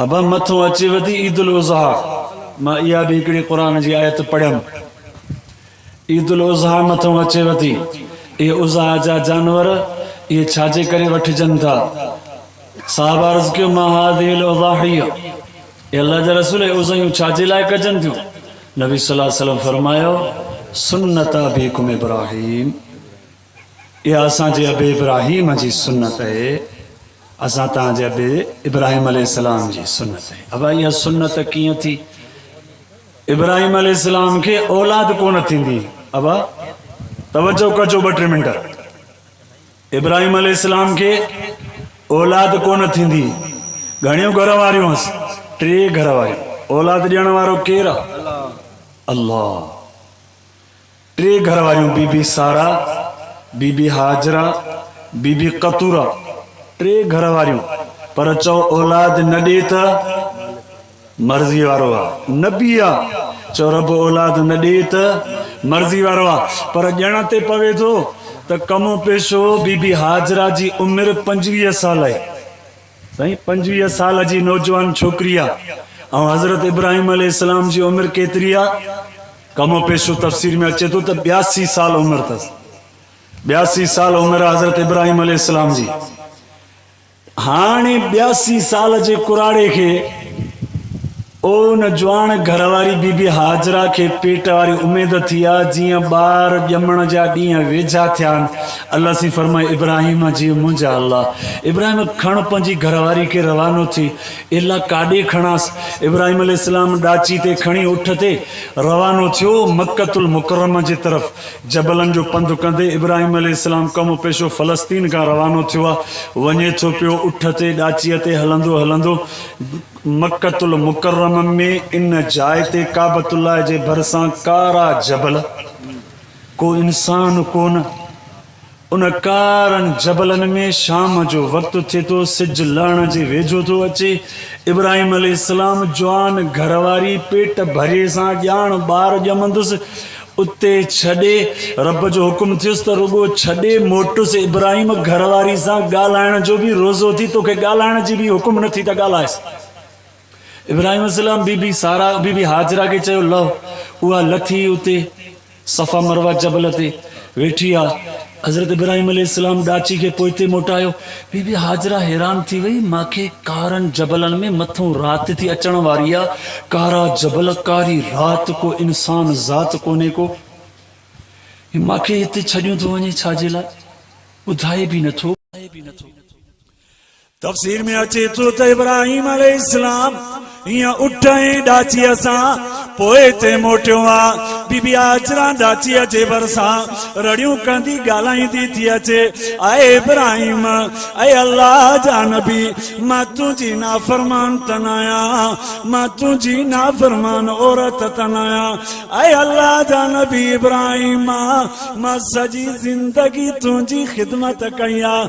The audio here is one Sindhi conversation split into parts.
ابهم مٿو اچي وڌي عيد الاضحيٰ مان اها به هڪڙي قرآن جي آيت پڙهيم. عيد الاضحيٰ مٿو اچي وڌي اهي اضحيٰ جا جانور اهي ڇا جي ڪري وٺجن ٿا؟ صحابه عرض ڪيو ما هذه الاضاحيٰ اي الله جا رسول اهي اضحيون ڇا جي لاء ڪجن ٿيون؟ نبي صلي الله عليه وسلم فرمايو سنت ابيڪم ابراهيم اها اسان جي ابي ابراهيم جي سنت اهي اسان تان جي ابي ابراهيم عليه السلام جي سنت اهي ابا اها سنت ڪيئن ٿي ابراهيم عليه السلام کي اولاد ڪونه ٿيندي ابا توجه ڪجو ٻه ٽي منٽ ابراهيم عليه السلام کي اولاد ڪونه ٿيندي گهڻيون گهر واريون هس ٽي گهر واريون اولاد ڏيڻ وارو ڪير الله ٽي گهر واريون بي بي سارا، بي بي هاجره، بي بي قطوره ٽي گهر واريون پر چؤ اولاد نه ڏي ته مرضي وارو آ، نبي آ، چؤ رب اولاد نه ڏي ته مرضي وارو آ پر ڄڻ تي پوي ٿو ته ڪم پيشو بي بي هاجره جي عمر پنجويهه سال هئي سائين پنجويهه سال جي نوجوان ڇوڪري آ ۽ حضرت ابراهيم عليه السلام جي عمر ڪيتري آ ڪم و پيشو تفسير ۾ اچي ٿو ته ٻياسي سال عمر تس ٻياسي سال عمر آ حضرت ابراهيم عليه السلام جي هاڻي ٻياسي سال جي ڪراڙي کي او ان جوان گهر واري بي بي هاجره کي پيٽ واري اميد ٿي آ جيئن ٻار ڄمڻ جا ڏينهن ويجها ٿيا آهن الله سين فرمائي ابراهيم جي منهنجا الله ابراهيم کڻ پنهنجي گهر واري کي روانو ٿي الا ڪاڏي کڻانس ابراهيم عليه السلام ڏاچي تي کڻي اٺ تي روانو ٿيو مڪه المڪرمه جي طرف جبلن جو پنڌ ڪندي ابراهيم عليه السلام قوم پيشو فلسطين کان روانو ٿيو آ وڃي ٿو پيو اٺ تي ڏاچي تي هلندو هلندو مڪة المڪرمه ۾ ان جاء تي ڪعبة الله جي ڀرسان ڪارا جبل، ڪو انسان ڪونه. ان ڪارن جبلن ۾ شام جو وقت ٿئي ٿو، سج لهڻ جي ويجهو ٿو اچي، ابراهيم عليه السلام جوان گهرواري پيٽ ڀريي سان ڄاڻ ٻار ڄمندس، اتي ڇڏي، رب جو حڪم ٿيس ته رڳو ڇڏي موٽس ابراهيم گهر واري سان ڳالهائڻ جو به روزو ٿي توکي ڳالهائڻ جي به حڪم نه ٿي ته ڳالهائيس ابراهيم عليه السلام بي بي سارا بي بي هاجره کي چيو لهو اها لٿي اتي صفا مروه جبل تي ويٺي آ حضرت ابراهيم عليه السلام ڏاچي کي پوئتي موٽايو. بي بي هاجره حيران ٿي وئي، مان کي ڪارن جبلن ۾ مٿون رات ٿي اچڻ واري آ، ڪارا جبل، ڪاري رات، ڪو انسان ذات ڪونهي ڪو. هي مان کي هتي ڇڏيون ٿو وڃي ڇا جي لاء؟ ٻڌائي به نه ٿو. تفسير ۾ اچي ٿو ته ابراهيم عليه السلام ايئن اٺ ۽ ڏاچيء سان پوء اتي موٽيو ها. بي بي هاجره ڏاچيء جي ڀرسان رڙيون ڪندي ڳالهائيندي ٿي اچي، اي ابراهيم! اي الله جا نبي! مان تنهنجي نافرمان ته نه آهيان، مان تنهنجي نافرمان عورت ته نه آهيان. اي الله جا نبي ابراهيم! مان سڄي زندگي تنهنجي خدمت ڪئي آهي.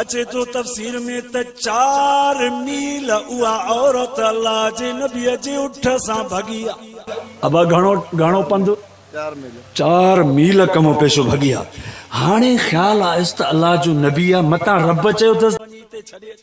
اچي ٿو تفسير ۾ ته چار ميل اها عورت الله جي نبيء جي اٺ سان ڀڳي ها. ابا گهڻو گهڻو پنڌ چار ميل ڪمو پيشو ڀڳي ها. هاڻي خيال آيس ته الله جو نبي آ متان رب چيو ٿس ته وڃي تي ڇڏي اچ.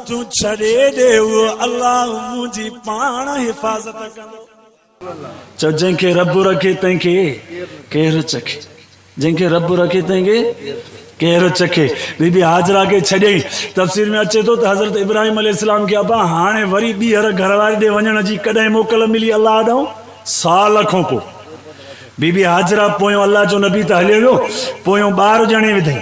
تون ڇڏي ڏي اهو الله منهنجي پاڻ حفاظت ڪندو. چئو جنهن کي رب رکي تنهن کي ڪير چکي جنهن کي رب رکي تنهن کي ڪير چکي بي بي هاجره کي ڇڏيائين تفسير ۾ اچي ٿو ته حضرت ابراهيم عليه السلام کي ابا هاڻي وري ٻيهر گهر واري ڏي وڃڻ جي ڪڏهن موڪل ملي الله ڏانهن سال کان پوء بي بي هاجره پويون الله جو نبي ته هليو ويو پويون ٻار ڄڻي وڌئين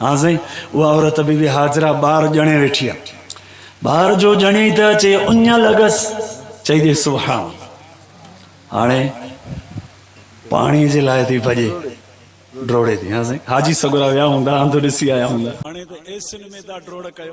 ها سائين اها عورت بي بي حاجره ٻار ڄڻي ويٺي آ ٻار جو ڄڻي ته اچي اڃ لڳس چئي ڏي سبحان الله هاڻي پاڻي جي لاء ٿي ڀڄي ڊوڙي ٿي ها سائين حاجي سگورا ويا هوندا انڌ ڏسي آيا هوندا هاڻي ته ايسين ۾ ٿا ڊوڙ ڪيو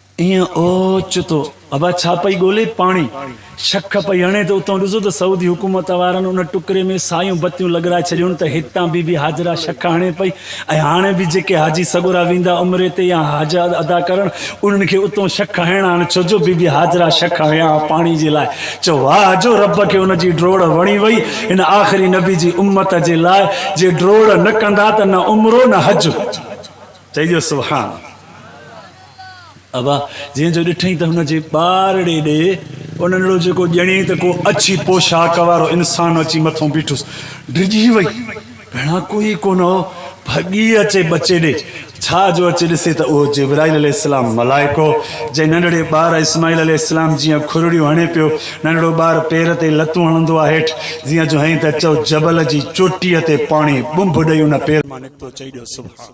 ايئن اوچتو ابا ڇا پئي ڳولي پاڻي شخ پئي هڻي ته اتئون ڏسو ته سعودي حڪومت وارن ان ٽڪري ۾ سايون بتيون لڳرائي ڇڏيون ته هتان بي بي هاجره شخ هڻي پئي ۽ هاڻي به جيڪي حاجي سڳورا ويندا عمري تي يا حج ادا ڪرڻ انهن کي اتئون شخ هڻڻا آهن ڇوجو بي بي هاجره شخ هنيا ها پاڻي جي لاء چئو ها جو رب کي ان جي ڊوڙ وڻي وئي هن آخري نبي جي امت جي لاء جي ڊوڙ نه ڪندا ته نه عمرو نه حج چئجو سبحان ابا جنهن جو ڏٺئين ته هن جي ٻارڙي ڏي ان نڙو جيڪو ڄڻي ته ڪو اڇي پوشاڪ وارو انسان اچي مٿو بيٺس. ڊڄي وئي. ڀيڻان ڪوئي ڪونه هو. ڀڳي اچي ٻچي ڏي. ڇا جو اچي ڏسي ته اهو جبرائيل عليه السلام ملائڪو جنهن ننڍڙي ٻار اسماعيل عليه السلام جيان کرڙيون هڻي پيو. ننڍڙو ٻار پير تي لتون هڻندو آ هيٺ جيان جو هئين ته چئو جبل جي چوٽيء تي پاڻي ٻنڀ ڏئي ان پير مان نڪتو چئي ڏيو سبحان.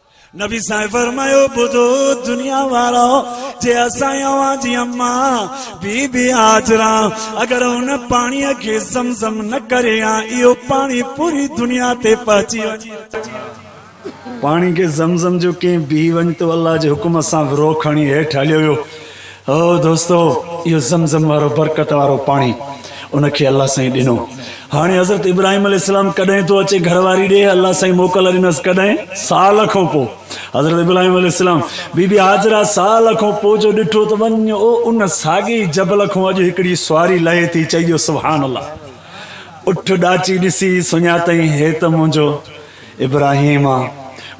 نبي سائين فرمايو ٻڌو دنيا وارؤ جي اسان اوهان جي اما بي بي هاجره اگر ان پاڻي کي زم زم نه ڪري ها اهو پاڻي پوري دنيا تي پهچي وڃي پاڻي کي زم زم جو ڪنهن بي وڃ تو الله جي حڪم سان ورو کڻي هيٺ هليو ويو او دوستو! اهو زم زم وارو برڪت وارو پاڻي ان کي الله سائين ڏنو. هاڻي حضرت ابراهيم عليه السلام ڪڏهن ٿو اچي گهر واري ڏي؟ الله سائين موڪل ڏنس ڪڏهن؟ سال کان پوء. حضرت ابراهيم عليه السلام بي بي هاجره سال کان پوء جو ڏٺو ته وڃ او ان ساڳي ئي جبل کان اڄ هڪڙي سواري لهي ٿي چئي جو سبحان الله! اٺ ڏاچي ڏسي سڃاتئين هي ته منهنجو ابراهيم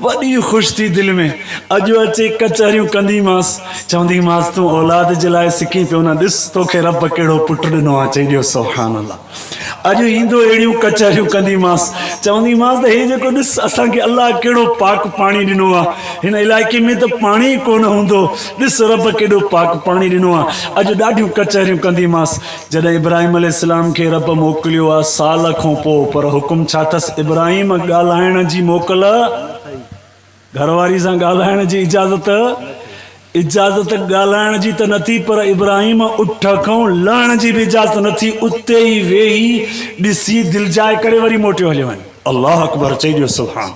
وڏي خوش ٿي دل ۾ اڄ اچي ڪچهريون ڪنديمانس، چونديمانس تون اولاد جي لاء سڪين پيو نه ڏس توکي رب ڪهڙو پٽ ڏنو آ چئي ڏيو سبحان الله اڄ ايندو اهڙيون ڪچهريون ڪنديمانس چونديمانس ته هي جيڪو ڏس اسان کي الله ڪهڙو پاڪ پاڻي ڏنو آ هن علائقي ۾ ته پاڻي ئي ڪونه هوندو ڏس رب ڪيڏو پاڪ پاڻي ڏنو آ اڄ ڏاڍيون ڪچهريون ڪنديمانس جڏهن ابراهيم عليه السلام کي رب موڪليو ها سال کون پوء پر حڪم ڇا اٿس ابراهيم ڳالهائڻ جي موڪل گهر واري سان ڳالهائڻ جي اجازت اجازت ڳالهائڻ جي ته نه ٿي پر ابراهيم اٺ کون لهڻ جي به اجازت نه ٿي اتي ئي ويهي ڏسي دلجاء ڪري وري موٽيو هليو وڃي الله اڪبر چئي ڏيو سبحان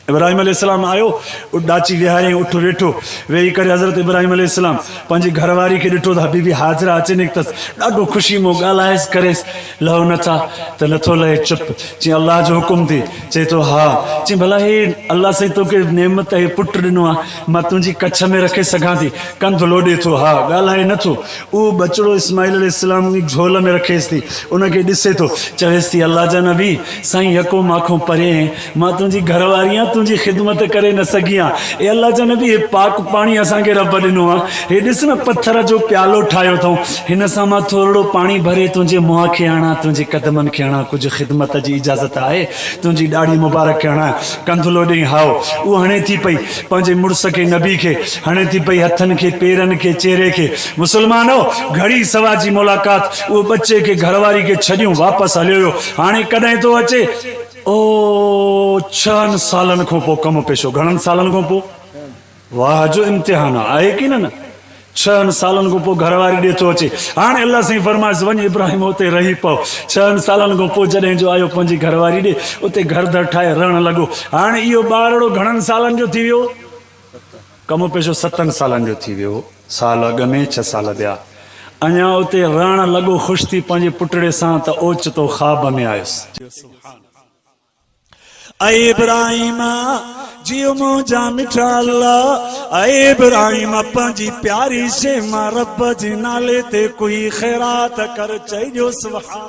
ابراهيم عليه السلام آيو، اٺ ڏاچي ويهاريائين، اٺ ويٺو، ويهي ڪري حضرت ابراهيم عليه السلام پنهنجي گهر واري کي ڏٺو ته حبيبي هاجره اچي نڪتس، ڏاڍو خوشي مون ڳالهائيس ڪريس، لهو نه ڇا؟ ته نٿو لهي چپ، چيائين الله جو حڪم ٿي، چئي ٿو ها، چيائين ڀلا هي الله سائين توکي نعمت هي پٽ ڏنو آهي، مان تنهنجي ڪڇ ۾ رکي سگهان ٿي، ڪنڌ لوڏي ٿو ها، ڳالهائي نه ٿو، اهو ٻچڙو اسماعيل عليه السلام جي جهول ۾ رکيس ٿي، ان کي ڏسي ٿو، چويس ٿي الله جا نبي، سائين يڪو مانکون پري هين، مان تنهنجي گهر واري آهيان تنهنجي خدمت ڪري نه سگهي ها اي الله جا نبي هي پاڪ پاڻي اسان کي رب ڏنو آهي هي ڏس نه پٿر جو پيالو ٺاهيو اٿئون هن سان مان ٿورڙو پاڻي ڀري تنهنجي منهن کي هڻان تنهنجي قدمن کي هڻان ڪجهه خدمت جي اجازت آهي تنهنجي ڏاڙهي مبارڪ کي هڻان ڪنڌلو ڏئي هائو اهو هڻي ٿي پئي پنهنجي مڙس کي نبي کي هڻي ٿي پئي هٿن کي پيرن کي چهري کي مسلمانو گهڙي سوا جي ملاقات اهو ٻچي کي گهر واري کي ڇڏيون واپس هليو ويو هاڻي ڪڏهن ٿو اچي او ڇهن سالن کون پو ڪم پيشو گهڻن سالن کون پو واهه جو امتحان آ آهي ڪي نه نه ڇهن سالن کون پو گهر واري ڏي ٿو اچي هاڻي الله سائين فرمائس وڃ ابراهيم اتي رهي پو ڇهن سالن کون پو جڏهن جو آيو پنهنجي گهر واري ڏي اتي گهر در ٺاهي رهڻ لڳو هاڻي اهو ٻارڙو گهڻن سالن جو ٿي ويو ڪم پيشو ستن سالن جو ٿي ويو، سال اڳ ۾ ڇهه سال ٻيا. اڃا اتي رهڻ لڳو خوش ٿي پنهنجي پٽڙي سان ته اوچتو خواب ۾ آيس. اي ابراهيم! جيو منهنجا مٺا الله! اي ابراهيم! پنهنجي پياري شيء مان رب جي نالي تي ڪوئي خيرات ڪر. چئي ڏيو سبحان.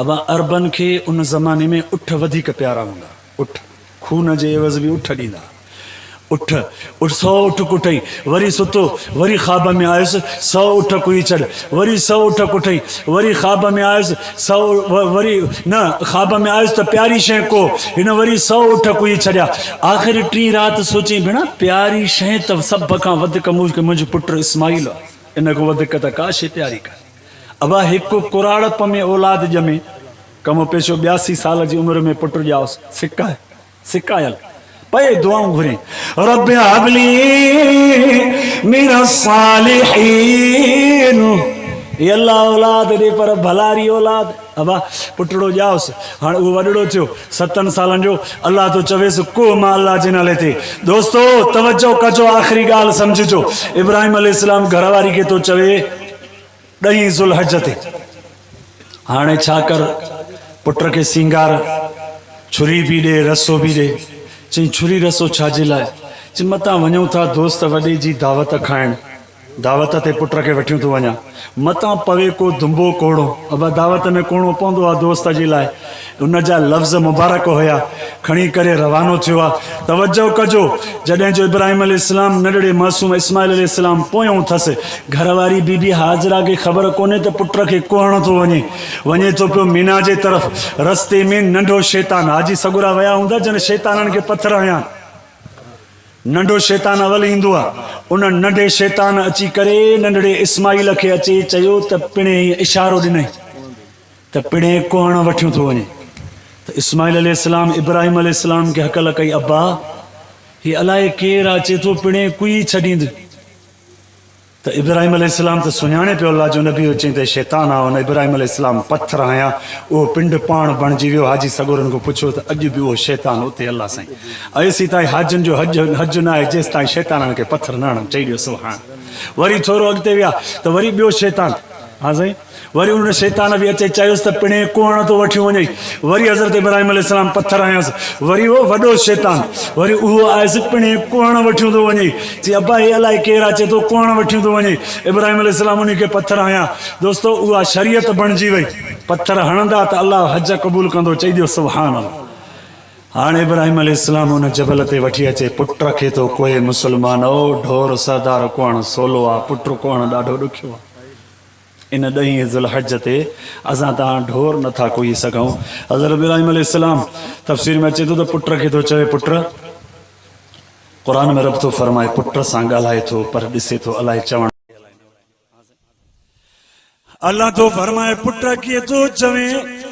ابا عربن کي ان زماني ۾ اٺ وڌيڪ پيارا هوندا. اٺ، خون جي عيوض به اٺ ڏيندا ها. اٺ، اٺ سئو اٺ ڪٽئي، وري ستو، وري خواب ۾ آيس، سئو اٺ ڪهي ڇڏ، وري سئو اٺ ڪٽئي، وري خواب ۾ آيس، سئو، وري، نه، خواب ۾ آيس ته پياري شيء ڪوهه، هن وري سئو اٺ ڪهي ڇڏيا. آخر ٽين رات سوچيائين، ڀيڻا، پياري شيء ته سڀ کان وڌيڪ مون کي منهنجو پٽ اسماعيل آ، ان کان وڌيڪ ته ڪا شيء پياري ڪانهي. ابا هڪ ڪراڙپ ۾ اولاد ڄمي، ڪم پيشو ٻياسي سال جي عمر ۾ پٽ ڄائوس، سڪ سڪايل پئي دعائون گهرين، رب هب لي من الصالحين، اي الله اولاد ڏي پر ڀلاري اولاد، ابا پٽڙو ڄائوس، هاڻ اهو وڏڙو ٿيو ستن سالن جو، الله ٿو چويس ڪوهه مان الله جي نالي تي، دوستو توجه ڪجو آخري ڳالهه سمجهجو، ابراهيم عليه السلام گهر واري کي ٿو چوي ڏهين ذوالحج تي هاڻي ڇا ڪر، پٽ کي سينگار، ڇري به ڏي، رسو به ڏي. چئين ڇري رسو ڇا جي لاء؟ چئين متان وڃون ٿا دوست وڏي جي دعوت کائڻ، دعوت تي پٽ کي وٺيون ٿو وڃان، متان پوي ڪو دنبو ڪوڙو، ابا دعوت ۾ ڪوڙو پوندو آ دوست جي لاء. ان جا لفظ مبارڪ هيا کڻي ڪري روانو ٿيو آ توجه ڪجو جڏهن جو ابراهيم عليه السلام ننڍڙي معصوم اسماعيل عليه السلام پويون ٿس گهر واري بي بي هاجره کي خبر ڪونهي ته پٽ کي ڪهڻ ٿو وڃي وڃي ٿو پيو مينا جي طرف رستي ۾ ننڍو شيطان حاجي سڳورا ويا هوندا جن شيطانن کي پٿر هنيا ننڍو شيطان اول ايندو آ ان ننڍي شيطان اچي ڪري ننڍڙي اسماعيل کي اچي چيو ته پڻهين اشارو ڏنئي ته پڻهين ڪوهڻ وٺيو ٿو وڃي ته اسماعيل عليه السلام ابراهيم عليه السلام کي هڪل ڪئي ابا هي الائي ڪير آ اچي ٿو پڻهين ڪوئي ڇڏيند ته ابراهيم عليه السلام ته سڃاڻي پيو الله جو نبي هو چئين ته هي شيطان آ هن ابراهيم عليه السلام پٿر هنيا اهو پنڊ پاڻ بڻجي ويو حاجي سڳورن کان پڇيو ته اڄ به اهو شيطان اتي الله سائين ايسي تائين حاجين جو حج حج ناهي جيستائين شيطانن کي پٿر نه هڻن چئي ڏيو سبحان وري ٿورو اڳتي ويا ته وري ٻيو شيطان ها سائين وري انهن شيطان به اچي چيس ته پڻهين ڪوهڻ تون وٺيون وڃئي. وري حضرت ابراهيم عليه السلام پٿر هنيس. وري اهو وڏو شيطان وري اهو آيس پڻهين ڪوهڻ وٺيون ٿو وڃئي. چي ابا هي الائي ڪير آ چي ٿو ڪوهڻ وٺيون ٿو وڃئي. ابراهيم عليه السلام انهي کي پٿر هنيا. دوستو اها شريعت بڻجي وئي. پٿر هڻندا ته الله حج قبول ڪندو چئي ڏيو سبحان الله. هاڻ ابراهيم عليه السلام ان جبل تي وٺي اچي پٽ رکي ٿو ڪوهي مسلمانؤ ڍور سهدار ڪوهڻ سولو آ پٽ ڪوهڻ ڏاڍو ڏکيو آ. ان ڏهين ذو الحج تي اسان تان ڍور نه ٿا ڪوهي سگهون. حضرت ابراهيم عليه السلام تفسير ۾ اچي ٿو ته پٽ کي ٿو چوي پٽ! قرآن ۾ رب ٿو فرمائي پٽ سان ڳالهائي ٿو پر ڏسي ٿو الائي چوڻ. الله ٿو فرمائي پٽ ڪي ٿو چوين؟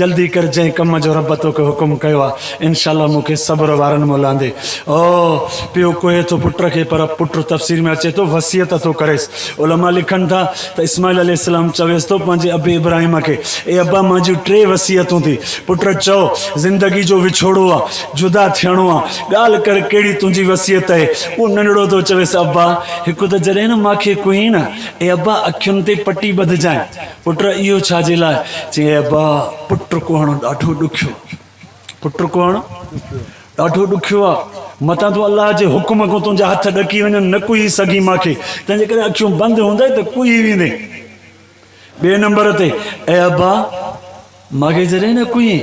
جلدي ڪر جنهن ڪم جو رب توکي حڪم ڪيو آ انشاء الله مون کي صبر وارن ۾ لاندي او پيو ڪوهي ٿو پٽ کي پر پٽ تفسير ۾ اچي ٿو وصيت ٿو ڪريس علماء لکن ٿا ته اسماعيل عليه السلام چويس ٿو پنهنجي ابي ابراهيم کي اي ابا مان جون ٽي وصيتون ٿي پٽ چئو زندگي جو وڇوڙو آ جدا ٿيڻو آ ڳالهه ڪر ڪهڙي تنهنجي وصيت اهي اهو ننڍڙو ٿو چويس ابا هڪ ته جڏهن مان کي ڪهين نه اي ابا اکين تي پٽي ٻڌجانء پٽ اهو ڇا جي لاء؟ چيائين ابا پٽ ڪوهڻ ڏاڍو ڏکيو آهي. پٽ ڪوهڻ ڏاڍو ڏکيو آهي. متان تون الله جي حڪم کان تنهنجا هٿ ڏڪي وڃن، نه ڪوهي سگهين مان کي، تنهنجي ڪري اکيون بند هوندئي ته ڪوهي ويندين. ٻئي نمبر تي اي ابا! ماڳهين جڏهن نه ڪئين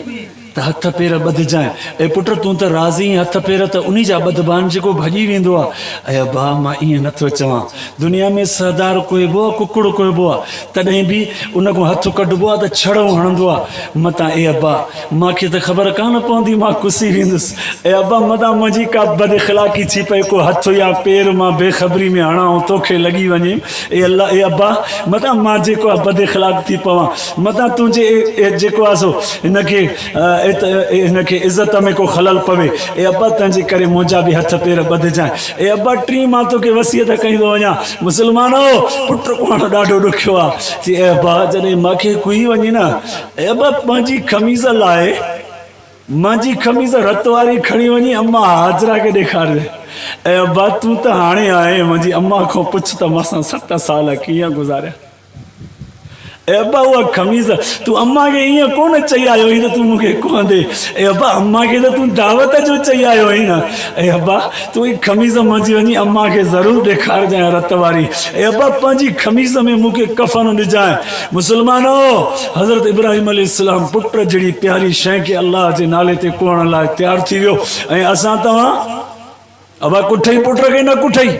ته هٿ پير ٻڌجانء. اي پٽ تون ته راضي اينء هٿ پير ته انهي جا ٻڌبان جيڪو ڀڄي ويندو آ. اي ابا مان ايئن نه ٿو چوان. دنيا ۾ سهدار ڪوهبو آ ڪڪڙ ڪوهبو آ. تڏهن به ان کان هٿ ڪڍبو آ ته ڇڙهون هڻندو آ. متان اي ابا مان کي ته خبر ڪانه پوندي مان ڪسي ويندس. اي ابا متان منهنجي ڪا بد اخلاقي ٿي پئي ڪو هٿ يا پير مان بي خبري ۾ هڻان ۽ توکي لڳي وڃي. اي الله اي ابا متان مان جيڪو آ بد اخلاق ٿي پوان. متان تون جي اي جيڪو آھي سو ھن کي ات اي ھن کي عزت ۾ ڪو خلل پوي اي ابا تنھن جي ڪري منھنجا به ھٿ پير ٻڌجانء اي ابا ٽين مان توکي وصيت ڪئي ٿو وڃان مسلمانو پٽ ڪوھڻ ڏاڍو ڏکيو آ چي اي ابا جڏھن ماکي ڪوھي وڃي نه اي ابا مانھنجي خميس لاھي مانھنجي خميس رت واري کڻي وڃي امان ھاجره کي ڏيکارجي اي ابا تون ته ھاڻي آھين مانھنجي امان کان پڇ ته مانسان ست سال ڪيئن گذاريا. اي ابا اها خميس تون امان کي ايئن ڪونه چئي آيو هئين ته تون مون کي ڪونه ڏي. اي ابا امان کي ته تون دعوت جو چئي آيو هئين نه. اي ابا تون هي خميس منجهي وڃي امان کي ضرور ڏيکارجانء رت واري. اي ابا پنهنجي خميس ۾ مون کي ڪفن ڏجانء. مسلمانؤ! حضرت ابراهيم عليه السلام پٽ جهڙي پياري شيء کي الله جي نالي تي ڪوڙڻ لاء تيار ٿي ويو ۽ اسان توهان ابا ڪٺئي پٽ کي نه ڪٺئي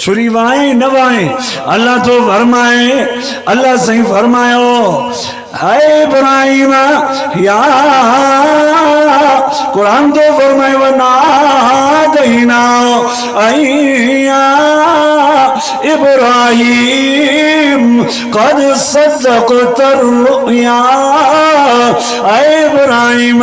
ڇري وائين نه وائين الله ٿو فرمائي الله سائين فرمايو اي ابراهيم يا قرآن ٿو فرمائي ونا دينا ايا ابراهيم قد صدق ترؤيا اي ابراهيم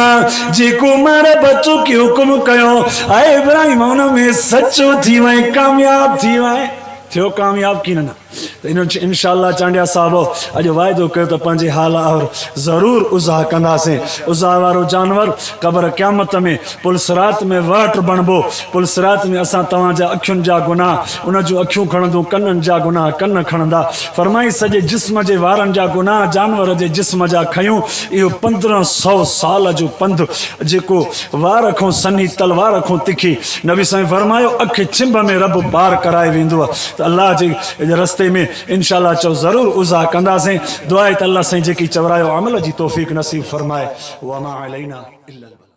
جيڪو مر بچو کي حڪم ڪيو اي ابراهيم ان ۾ سچو ٿي وئين ڪامياب ٿي وئين ٿيو ڪامياب ڪين نه ته ان انشاء الله چانڊيا صاحب اڄ وعدو ڪيو ته پنهنجي حال آهر ضرور ازاح ڪنداسين ازاح وارو جانور قبر قيامت ۾ پل صراط ۾ وهٽ بڻبو پل صراط ۾ اسان توهان جا اکين جا گناهه ان جون اکيون کڻندون ڪنن جا گناهه ڪن کڻندا فرمائي سڄي جسم جي وارن جا گناهه جانور جي جسم جا کنيون اهو پندرهن سو سال جو پنڌ جيڪو وار کان سنهي تلوار کان تکي نبي سائين فرمايو اک ڇنڀ ۾ رب پار ڪرائي ويندو ته الله جي رستي ۾ انشاء الله چئو ضرور عزا ڪنداسين دعا اهي ته الله سائين جيڪي چورايو عمل جي توفيق نصيب فرمائي وما علينا الا البلاغ.